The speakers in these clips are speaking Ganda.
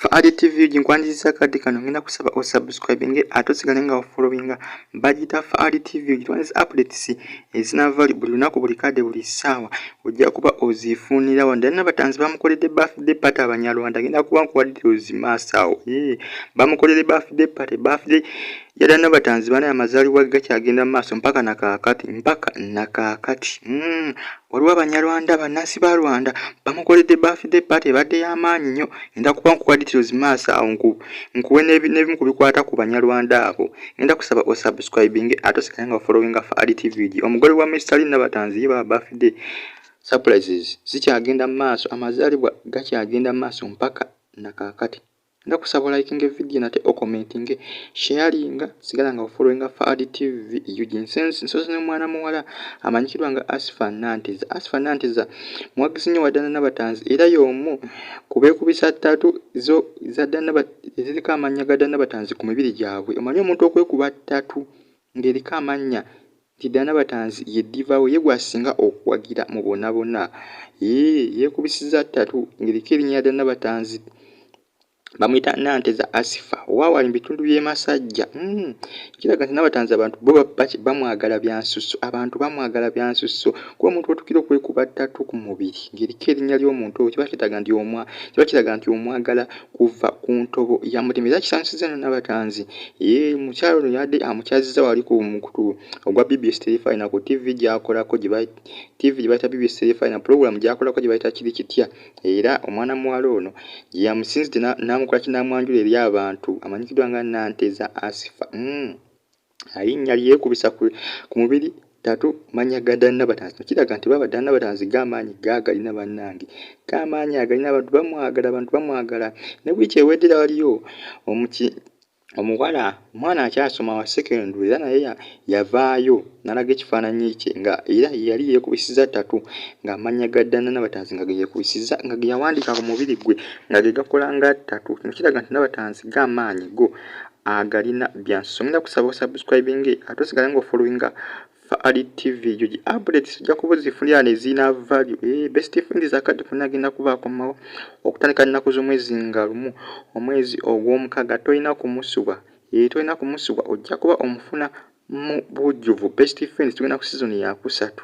Fa Adi TV ginkwanjizisa kadi kano ngenda kusaba o subscribing ate osigale nga ofollowinga bagita Fa Adi TV gitwanjizisa updates ezinava buli lunaku buli kade buli saawa ojja kuba ozifunira wano dali nabatanzi bamukoledde birthday party abanyarwanda ngenda kuba nkuwadde ozimaasaawo bamukoledde birthday party birthday Yada Nabatanzi banaye amazalibwa gakyagenda mu maaso mpaka na kaakati mpaka na kaakati mm. waliwo abanyarwanda bannansi ba rwanda bamukoledde birthday party ebadde y'amaanyi nnyo ngenda kuba nkuwa details maaso awo nkuwe n'ebimu ku bikwata ku banyarwanda abo ngenda kusaba osubscribing ate osigale nga wafollowinga fa ali tvg omugole wa mr lin nabatanzi ye baba birthday surprises zikyagenda mu maaso amazalibwa gakyagenda mu maaso mpaka na kaakati Nga kusaba olayikinge vidiyo nate okomentinge sheyalinga sigala nga ofolowinga Faadi TV UG nsensi nsozi ne mwana muwala amanyikirwa nga Asifa Nantiza Asifa Nantiza muwagizi nnyo wa Dana Nabatanzi era y'omu ku beekubisa ttatu zo za Dana eziriko amannya ga Dana Nabatanzi ku mibiri gyabwe omanyi omuntu okwekuba ttatu ng'eriko amannya Nti Diana Batanzi ye diva we ye gw'asinga okuwagira mu bona bona. Yee, yeekubisizza ttatu ng'eriko erinnya lya Diana Batanzi. Bamuyita Nanteza Asifa owa wali mu bitundu by'e Masajja. Hmm, kiraga nti Nabatanzi abantu bo bamwagala bya nsusso. Abantu bamwagala bya nsusso kuba omuntu w'otuukira okwekuba ttatu ku mubiri ng'eriko erinnya ly'omuntu oyo kiba kiraga nti omwagala. kuva ku ntobo ya mutima era kisanyusizza no nabatanzi ye mukyalo no yadde amukyazizza wali ku mukutu ogwa bbs telefina ku tv gyakolako tv gyebayita bbs telefina pulogulamu gyakolako gyebayita kiri kitya era omwana muwala ono gyeyamusinzidde namukola kinamwanjula eri abantu amanyikiddwa nga nanteza asifa mm. alinnya lyekubisa ku mubiri tatu manya ga ddala nabatanzi no kiraga nti baba ddala nabatanzi gaamaanyi gaagalina bannange gaamaanyi agalina abantu bamwagala abantu bamwagala ne wiiki ewedera waliyo omuki omuwala omwana akyasoma wa sekendu era naye yavaayo nalaga ekifaananyi kye nga era yali yeekubisiza tatu ng'amannya ga ddana nabatanzi nga geyekubisiza nga geyawandiika ku mubiri gwe nga ge gakola nga tatu kino kiraga nti nabatanzi gaamaanyi go agalina byansi ngenda kusaba osubscribing ate osigale nga ofollowinga faali tv ejo gi updates ojja kuba ozifunira neziina value e eh, best friend zakadde funa agenda kuba akomawo okutandika nnaku z'omwezi nga lumu omwezi ogw'omukaaga tolina kumusubwa e eh, tolina kumusubwa ojja kuba omufuna mu bujjuvu best friend tugenda ku sizoni yakusatu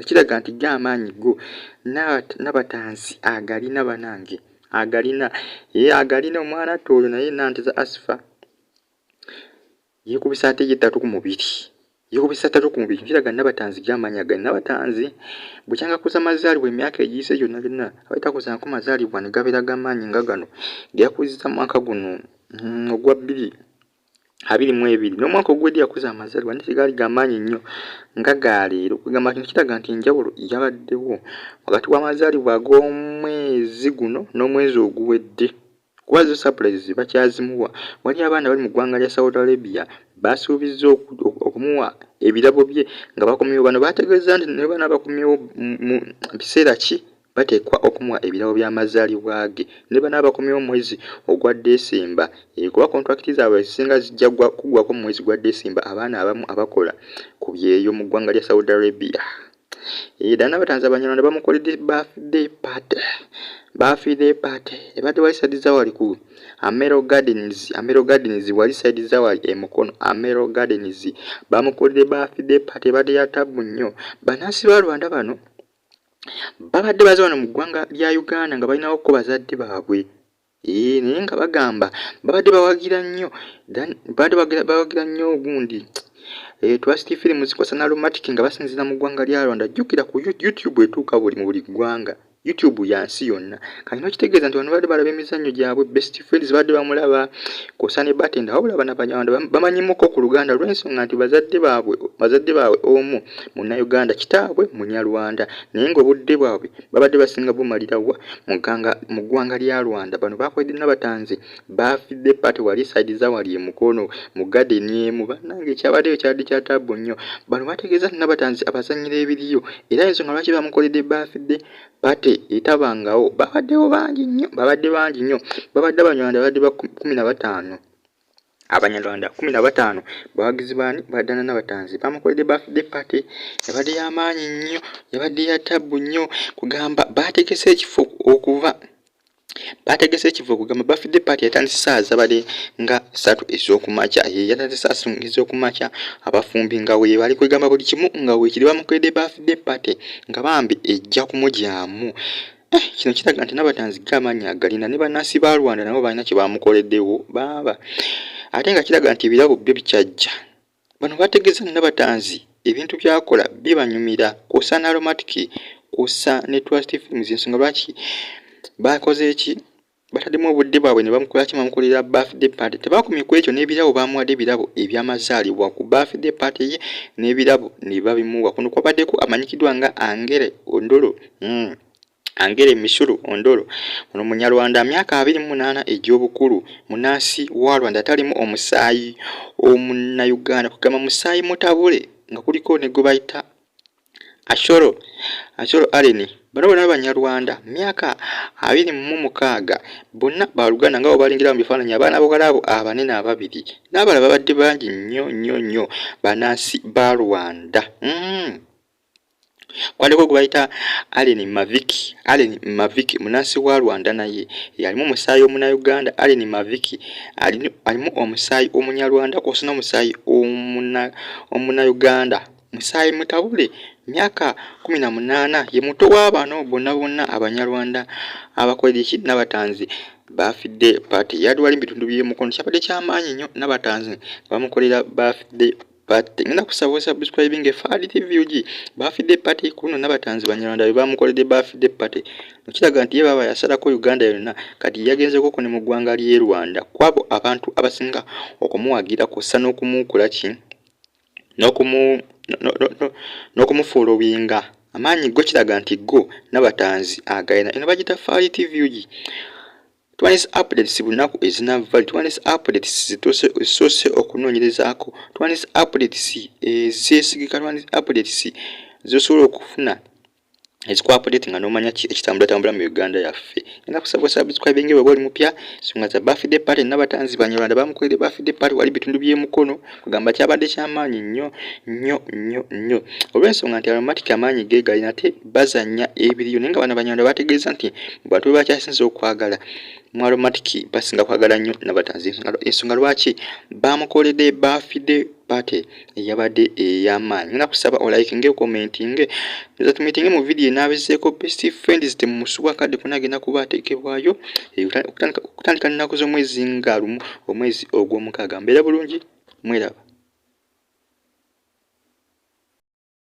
ekiraga nti ge amaanyi go nabatanzi agalina banange agalina ye agalina omwana atta oyo naye nantiza asifa yekubisa ate ye ttatu ku mubiri yekubisa ttatu ku mubiri kiraga nabatanzi ge amaanyi agali nabatanzi bukyanga kuza mazaalibwa emyaka egiyise gyonna byonna abatakuzanko mazaalibwa ne gabeera gamaanyi nga gano geyakuziza mwaka guno hmm, ogwa bbiri abiri mu ebiri n'omwaka oguwedde yakoze amazalibwa naye tegaali gamaanyi nnyo nga galeero kwegamba kino kiraga nti enjawulo yabaddewo wakati w'amazalibwa ag'omwezi guno n'omwezi oguwedde kuba zo surprise bakyazimuwa wali abaana bali mu ggwanga lya saudi arabia basuubizza okumuwa ebirabo bye nga bakomyewo bano bategeeza nti nebana bakomyewo mu biseera ki bateekwa okumuwa ebirabo by'amazaalibwa ge ne bano abakomyewo omwezi ogwa Ddesemba eh, kuba kontulakiti zaabwe ezisinga zijja kuggwako mu mwezi gwa Ddesemba abaana abamu abakola ku byeyo mu ggwanga lya Saudi Arabia. Eh, ddala n'abatanzi Abanyarwanda bamukoledde birthday party birthday party ebadde wali side zawali ku Amero Gardens Amero Gardens wali side zawali e Mukono Amero Gardens bamukoledde birthday party ebadde ya tabbu nnyo bannansi ba Rwanda bano babadde baze wano mu ggwanga lya uganda nga balinawo ko bazadde baabwe ee naye nga bagamba babadde bawagira nnyo babadde bawagira nnyo ogundi eh, twasiti firimu zikwasa nalumatiki nga basinzira mu ggwanga lya rwanda jjukira ku youtube etuuka buli mu buli ggwanga youtube yansi yonna kino kitegeeza nti bano badde balaba emizannyo gyabwe best friends badde bamulaba kwosa ne batenda wabula bana banyarwanda bamanyimuko ku luganda olw'ensonga nti bazadde baabwe bazadde baabwe omu munnauganda kitaabwe munyarwanda naye ng'obudde bwabwe babadde basinga bumalirawa mu ggwanga lya rwanda bano bakwedde nabatanzi baafidde pati wali saidi za wali emukono mu gadeni emu bannange ekyabaddeyo kyadde kya taabu nnyo bano bategeeza nti nabatanzi abazannyira ebiriyo era ensonga lwaki bamukoledde baafidde pate etabangawo babaddewo bangi nnyo babadde bangi nnyo babadde abanyarwanda babadde ba kumi na bataano abanyarwanda kumi na bataano bawagizi baani badana nabatanzi bamukoledde bafde pate yabadde yamaanyi nnyo yabadde ya tabbu nnyo kugamba baategese ekifo okuva baategese ekiva okugamba bafidde paati yatandise saawa zabadde nga satu ez'okumakya ye yatandise saasu ez'okumakya abafumbi nga weebali kwegamba buli kimu nga weekiri bamukwedde bafidde paati nga bambi ejja kumugyamu eh, kino kiraga nti nabatanzi gaamaanyi agalina ne bannansi ba rwanda nabo balina kye bamukoleddewo baaba ate nga kiraga nti ebirabo byo bikyajja Bano bategeza Nabatanzi ebintu byakola bibanyumira kwosa na aromatic kwosa ne trust films ensonga lwaki bakoze eki batademu obudde bwabwe ne bamukolaki bamukolera birthday party tebakomye ku ekyo n'ebirabo bamuwadde ebirabo ebyamazaalibwa ku birthday party ye n'ebirabo ne babimuwa kuno kwabaddeko amanyikiddwa nga angere ondolo mm. Angere Misuru Ondoro ono munyarwanda myaka abiri munaana egy'obukulu munansi wa Rwanda atalimu omusaayi omunnayuganda kugamba musaayi mutabule nga kuliko ne gwe bayita Ashoro Ashoro Allen bano bona abanyarwanda myaka abiri mu mukaaga bonna baluganda nga obalingira mu bifaananyi abaana bogalaabo abanene ababiri n'abala babadde bangi nnyo nnyo nnyo banansi ba Rwanda mm. kwaliko gwebayita allen mavik allen mavik munansi wa rwanda naye yalimu omusaayi omunauganda allen mavik alimu omusaayi omunyarwanda kwosina omusaayi omunauganda musaayi mutabule myaka kumi na munaana ye muto w'abaana bonna bonna abanyarwanda abakoleki nabatanzi bafidde paati yadwala ebitundu by'emukono kyabadde kyamaanyi nnyo nabatanzi bamukolera bafidde but ngenda kusaba osubscribing e fad tv ug bafidde party kuno nabatanzi banyarwanda bebamukoledde bafidde party mukiraga nti ye baba yasalako uganda yonna kati yagenzekoko ne mu ggwanga ly'e rwanda kwabo abantu abasinga okumuwagira kussa n'okumuukula ki n'okumufuula obuyinga amaanyi go kiraga nti go nabatanzi agayina eno bagita faali tv ug Twandiise updates bunaku ezinavva li twandiise updates zituuse okunoonyerezaako twandiise updates ezeesigika twandiise updates zosobola okufuna ezikuapdate nga nomanya ki ekitambulatambula mu uganda yaffe enda kusaba osubscribinge weba oli mupya songa za birthday party nabatanzi banyarwanda bamukolere birthday party wali bitundu by'emukono kugamba kyabadde kyamaanyi nnyo nnyo nnyo nnyo olw'ensonga nti aromatic amaanyi geegali nate bazanya ebiriyo naye nga bana banyarwanda bategeeza nti bantu be bakyasinza okwagala mu aromatic basinga kwagala nnyo nabatanzi ensonga lwaki baamukoledde baafidde pate eyabadde ey'amaanyi ngena kusaba olayikinge okomentinge ezatumitinge mu vidiyo enaabizeeko best friends temumusubwa kadde kona agenda kuba ateekebwayo eh, okutandika nnaku z'omwezi nga lumu omwezi ogw'omukaaga mbeera bulungi mweraba